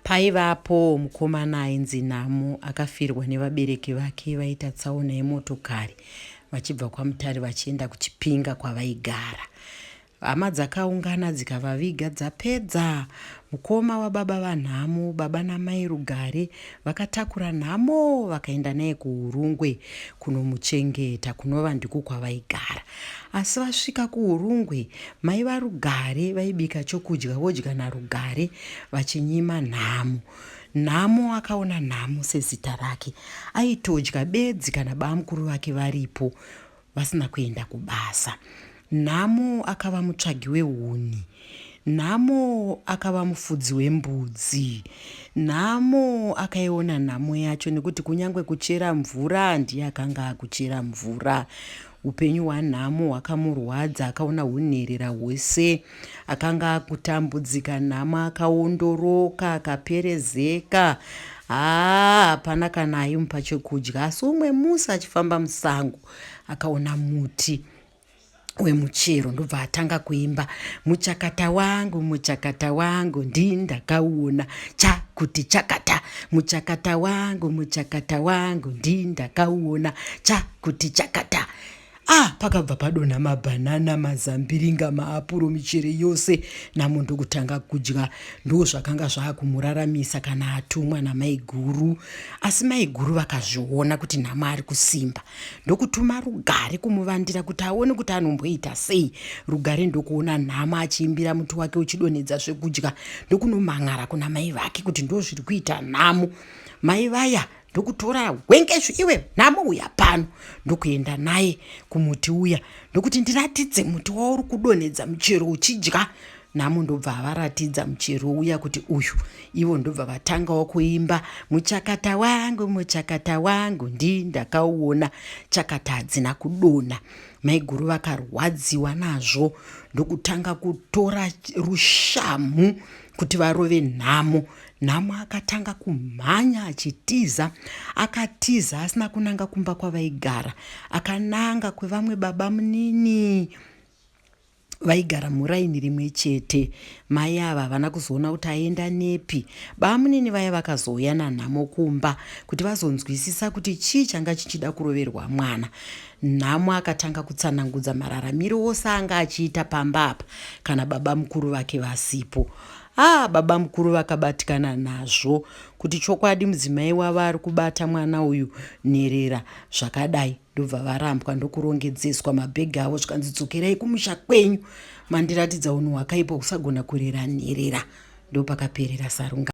Paivapowo mukomana ainzi Namo akafirwa nevabereki vake vaita tsaona yemotokari vachibva kwaMutare vachienda kuChipinga kwavaigara. Hama dzakaungana dzikavaviga dzapedza. Mukoma wababa vaNhamo, baba namai Rugare, vakatakura Nhamo vakaenda naye kuHurungwe kunomuchengeta kunova ndiko kwavaigara. Asi vasvika kuHurungwe, mai vaRugare vaibika chokudya vodya naRugare vachinyima nhamo. Nhamo akaona nhamo sezita rake. Aitodya bedzi kana bamukuru vake varipo vasina kuenda kubasa. Nhamo akava mutsvagi wehuni. Nhamo akava mufudzi wembudzi. Nhamo akaiona nhamo yacho nekuti kunyange kuchera mvura ndiye akanga akuchera mvura. Upenyu hwanhamo hwakamurwadza, akaona hunherera hwese. Akanga akutambudzika nhamo, akaondoroka, akaperezeka. Haa, hapana kana aimupa chekudya. Asi umwe musi achifamba musango, akaona muti wemuchero ndobva atanga kuimba muchakata wangu muchakata wangu ndii ndakauona cha kuti chakata muchakata wangu muchakata wangu ndii ndakauona cha kuti chakata ah pakabva padonha mabhanana mazambiringa maapuro michere yose namo ndokutanga kudya ndo zvakanga zvaakumuraramisa kana atumwa namaiguru asi maiguru vakazviona kuti nhamo ari kusimba ndokutuma rugare kumuvandira kuti aone kuti anomboita sei rugare ndokuona nhamo achiimbira muti wake uchidonhedza zvekudya ndokunomhan'ara kuna mai vake kuti ndo zviri kuita nhamo mai vaya ndokutora hwengezvi iwe nhamo uya pano ndokuenda naye kumuti uya ndokuti ndiratidze muti wauri kudonhedza muchero uchidya nhamo ndobva havaratidza muchero uya kuti uyu ivo ndobva vatangawo kuimba muchakata wangu muchakata wangu ndi ndakauona chakata hadzina kudonha maiguru vakarwadziwa nazvo ndokutanga kutora rushamhu kuti varove nhamo Nhamo akatanga kumhanya achitiza. Akatiza asina kunanga kumba kwavaigara. Akananga kwevamwe baba munini vaigara muraini rimwe chete. Mai ava havana kuzoona kuti aenda nepi. Baba munini vaya vakazouya nanhamo kumba kuti vazonzwisisa kuti chii changa chichida kuroverwa mwana. Nhamo akatanga kutsanangudza mararamiro ose anga achiita pamba apa kana baba mukuru vake vasipo. Haa babamukuru vakabatikana nazvo kuti chokwadi mudzimai wavo ari kubata mwana uyu nherera zvakadai ndobva varambwa ndokurongedzeswa mabhegi avo zvikanzi dzokerai kumusha kwenyu mandiratidza unhu hwakaipa kusagona kurera nherera ndopakaperera sarunga